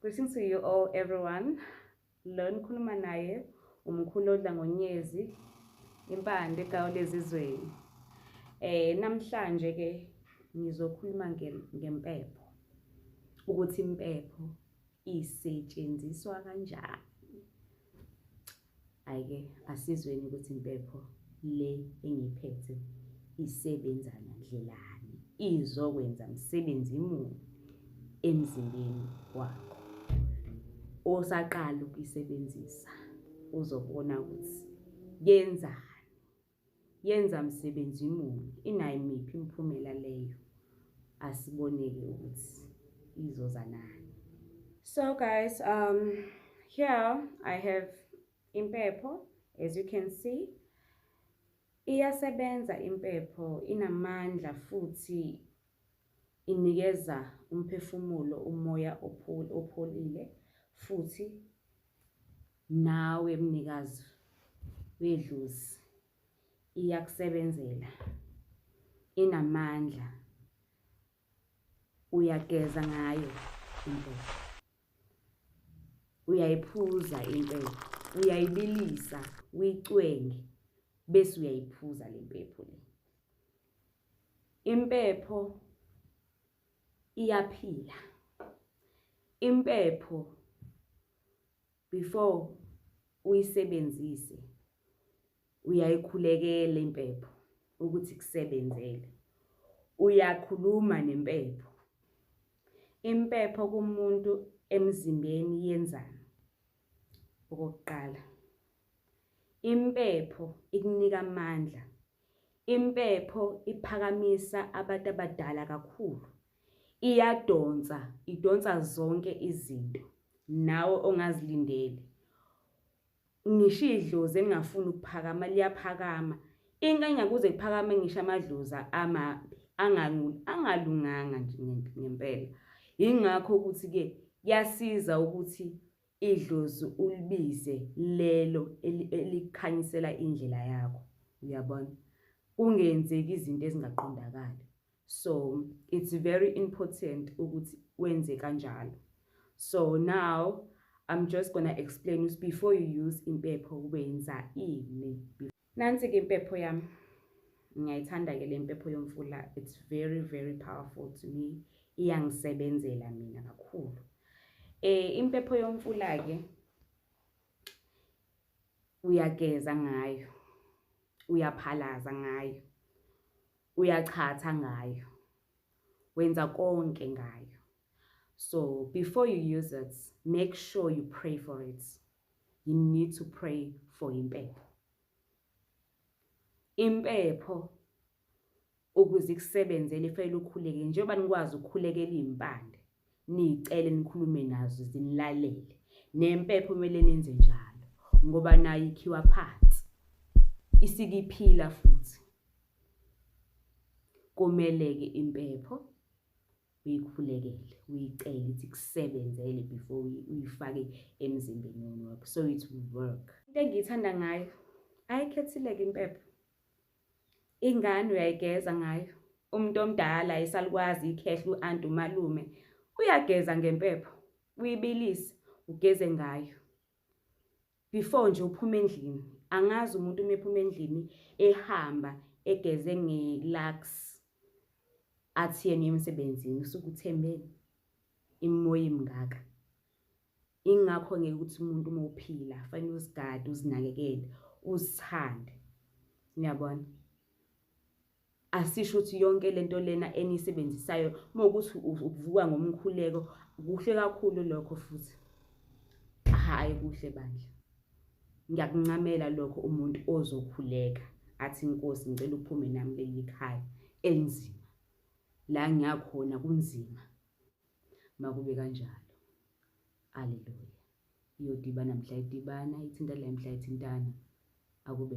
Greetings to you all everyone. Lo nikhuluma naye umkhulu odla ngonyezi impande kawulezizweni. Eh namhlanje ke ngizokhuluma ngempepho ukuthi impepho isetshenziswa kanjani. Ayike asizweni ukuthi impepho le engiphethe isebenza ngandlelani, izokwenza msebenzi muni emzimbeni wakho. Osaqala ukuyisebenzisa uzobona ukuthi yenzani. Yenza msebenzi muni? Inayo miphi imiphumela leyo? Asiboneke ukuthi izoza nani. So guys, um, here I have impepho as you can see. Iyasebenza impepho, inamandla futhi inikeza umphefumulo umoya opholile futhi nawe mnikazi wedlozi iyakusebenzela inamandla uyageza ngayo impepho uyayiphuza impepho uyayibilisa uyicwenge bese uyayiphuza le mpepho le Impepho iyaphila. Impepho before uyisebenzise uyayikhulekela impepho ukuthi kusebenzele. Uyakhuluma nempepho. Impepho kumuntu emzimbeni yenzani? Okokuqala, impepho ikunika amandla Impepho iphakamisa abantu abadala kakhulu. Iyadonsa, idonsa zonke izinto nawe ongazilindeli. Ngisho idlozi elingafuni ukuphakama liyaphakama. Inkinga kuze kuphakame ngisho amadlozi amabi angalunganga nje ngempela. Yingakho ukuthi-ke kuyasiza ukuthi idlozi ulibize lelo elikhanyisela indlela yakho uyabona kungenzeki izinto ezingaqondakali so it's very important ukuthi wenze kanjalo so now i'm just gonna explain ukuthi before you use impepho wenza ini Nansi ke impepho yami. Ngiyayithanda ke le mpepho yomfula. It's very very powerful to me. Iyangisebenzela mina kakhulu. Eh impepho yomfula ke uyageza ngayo. Uyaphalaza ngayo. Uyachatha ngayo. Wenza konke ngayo. So before you use it, make sure you pray for it. you need to pray for impepho impepho ukuze ikusebenzele fanele ukhuleke njengoba nikwazi ukukhulekela iy'mpande niyicele nikhulume nazo zinilalele nempepho kumele nenze njalo ngoba nayo ikhiwa phansi isikiphila futhi kumele-ke impepho uyikhulekele uyicele ithi kusebenzele before uyifake emzimbeni wakho so it will work into engiyithanda ngayo ayikhethileke impepho ingane uyayigeza ngayo umuntu omdala esalukwazi ikhehla u-anti umalume uyageza ngempepho uyibilise ugeze ngayo before nje uphuma endlini angazi umuntu uma ephuma endlini ehamba egeze nge-lux athi yena emsebenzini usuke uthembeni imimoya imngaka ingakho ngeke ukuthi umuntu uma uphila fanele uzigade uzinakekele uzithande niyabona Asisho ukuthi yonke lento lena eniyisebenzisayo mawukuthi ukuvuka ngomkhuleko kuhle kakhulu lokho futhi hhayi kuhle bandla ngiyakuncamela lokho umuntu ozokhuleka athi inkosi ngicela uphume nami leli khaya elinzima la ngiyakhona kunzima makube kanjalo aleluya iyodibana mhla idibana ithinta la mhla ithintana akube